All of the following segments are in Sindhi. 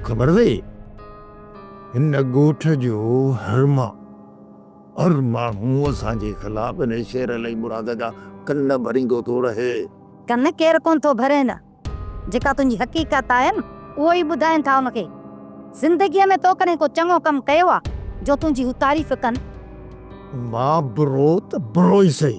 خبر اٿئي هن ڳوٺ جو هر ما هر ماڻهو اسان جي خلاف هن شير علي مراد جا ڪن ڀريندو ٿو رهي. ڪن ڪير ڪونه ٿو ڀرين جيڪا تنهنجي حقيقت آهي نه اهو ئي ٻڌائين ٿا ان کي. زندگيء ۾ تو ڪڏهن ڪو چڱو ڪم ڪيو آ جو تنهنجي هو تعريف ڪن. مان برو ته برو ئي سهي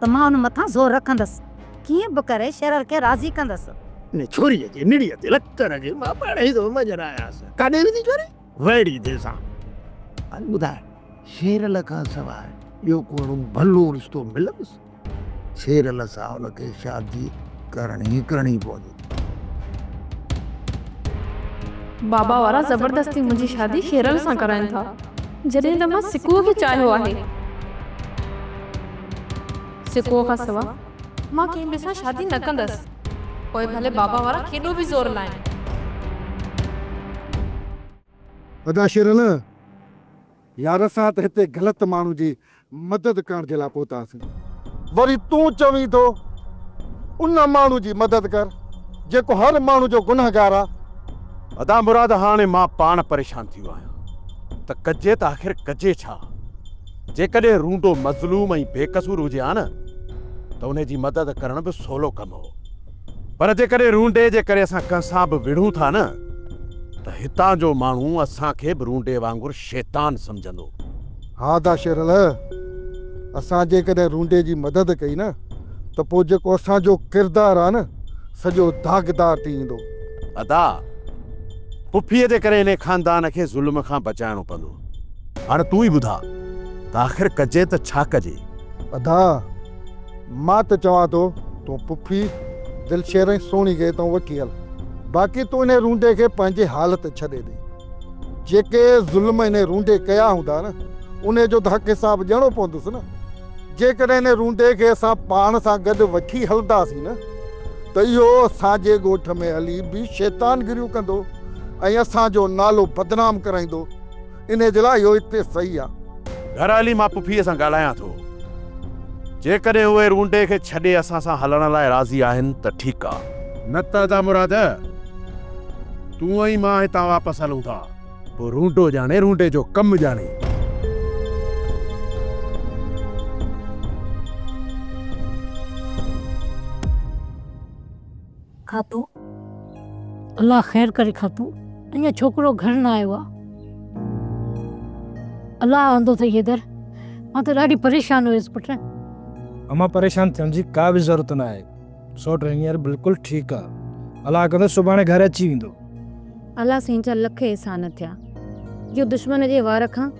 ته مان ان مٿان زور رکندس. ڪيئن به ڪري شيرل کي راضي ڪندس. ان ڇوريء جي نڙيء تي لڪڻ کي مان پاڻ ئي ٿو مڃن آيس. ڪاڏي ويندي ڇوري؟ ويڙهي ٿي سان. هل ٻڌاء، شيرل کان سواء ٻيو ڪو اهڙو ڀلو رشتو ملندس؟ شيرل سان ان کي شادي ڪرڻي ئي ڪرڻي پوندي. بابا وارا زبردستي منهنجي شادي شيرل سان ڪرائين ٿا جڏهن ته مان سڪوء کي چاهيو آهي. سڪوء کان سوا مان ڪنهن ٻئي سان شادي نه ڪندس پوء ڀلي بابا وارا ڪيڏو به زور لائين. ادا شيرل! يار اسان ته هتي غلط ماڻهو جي مدد ڪرڻ جي لاء پهتاسين. وري تون چوين ٿو ان ماڻهو جي مدد ڪر جيڪو هر ماڻهو جو گنهگار آ. ادا مراد هاڻي مان پاڻ پريشان ٿيو آهيان ته ڪجي ته آخر ڪجي ڇا؟ جيڪڏهن رونڊو مظلوم ۽ بيقصور هجي ها نه ته ان جي مدد ڪرڻ به سولو ڪم هو. پر جيڪڏهن رونڊي جي ڪري اسان ڪنهن سان به وڙهون ٿا نه ته هتان جو ماڻهو اسان کي به رونڊي وانگر شيطان سمجهندو. ها ادا شير الهه، اسان جيڪڏهن رونڊي جي مدد ڪئي نه ته پوء جيڪو اسان جو ڪردار آهي نه سڄو داغدار ٿي ويندو. ادا، پڦيء جي ڪري انهي خاندان کي ظلم کان بچائڻو پوندو. هاڻ تون ئي ٻڌاء ته آخر ڪجي ته ڇا ڪجي؟ ادا، مان ته چوان ٿو تون پڦي دلشير ۽ سهڻي کي اتان وٺي هل. باقي تون انهي رونڊي کي پنهنجي حال تي ڇڏي ڏي. جيڪي ظلم انهي رونڊي ڪيا هوندا نه انهي جو ته حق حساب ڏيڻو پوندس نه. جيڪڏهن انهي رونڊي کي اسان پاڻ سان گڏ وٺي هلنداسين نه ته اهو اسان جي ڳوٺ ۾ هلي به شيطانگريون ڪندو ۽ اسان جو نالو بدنام ڪرائيندو. انهي جي لاء اهو اتي صحيح آ. گهر هلي مان پڦيء سان ڳالهايان ٿو. جيڪڏهن اهي رونڊي کي ڇڏي اسان سان هلڻ لاء راضي آهن ته ٺيڪ آ. نه ته ادا مراد، تون ۽ مان هتان واپس هلون ٿا. پوء رونڊو ڄاڻي رونڊي جو ڪم ڄاڻي. کاتو، الله خير ڪري کاتو، اڃا ڇوڪرو گهر نه آيو آ. الله آندو اٿئي حيدر، مان ته ڏاڍي پريشان هيس پٽ. امان پريشان ٿيڻ جي ڪا به ضرورت نه آهي، سوٽ هينئر بلڪل ٺيڪ آ، الله ڪندو سڀاڻي گهر اچي ويندو. الله سين جا لک احسان ٿيا جو دشمن جي وار کان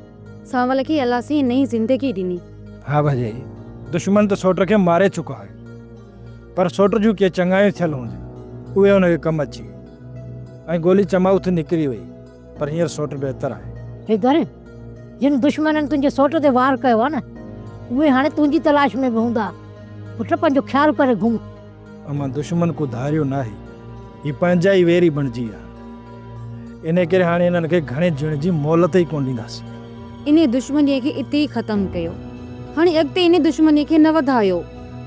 سانول کي الله سين نئين زندگي ڏني. ها ڀڄي، دشمن ته سوٽ کي ماري چڪو آهي. پر سوٽ جون ڪي چڱايون ٿيل هونديون، اهي هن کي ڪم اچي ويون ۽ گولي چماء ٿي نڪري وئي، پر هينئر سوٽ بهتر آهي. هي گهر، جن دشمنن تنهنجي سوٽ تي وار ڪيو آهي نه، اهي هاڻي تنهنجي تلاش ۾ به هوندا. پٽ، پنهنجو خيال ڪري گهم. امان، دشمن ڪو ڌاريو ناهي، هي پنهنجا ئي ويري بڻجي ويا. انهيء ڪري هاڻي انهن کي گهڻي جيئڻ جي مهلت ئي ڪونه ڏينداسين. انهيء دشمنيء کي اتي ئي ختم ڪيو. هاڻي اڳتي انهيء دشمنيء کي نه وڌايو.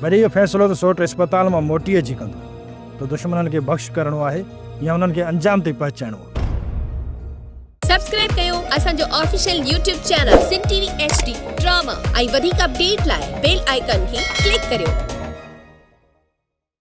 وري اهو فيصلو ته سوٽ اسپتال مان موٽي اچي ڪندو ته دشمنن کي بخش ڪرڻو آهي يا انهن کي انجام تائين پهچائڻو آهي. سبسڪرائب ڪيو اسان جو official YouTube channel Sindh T V H D drama ۽ وڌيڪ اپڊيٽ لاء بيل آئيڪان کي ڪلڪ ڪريو.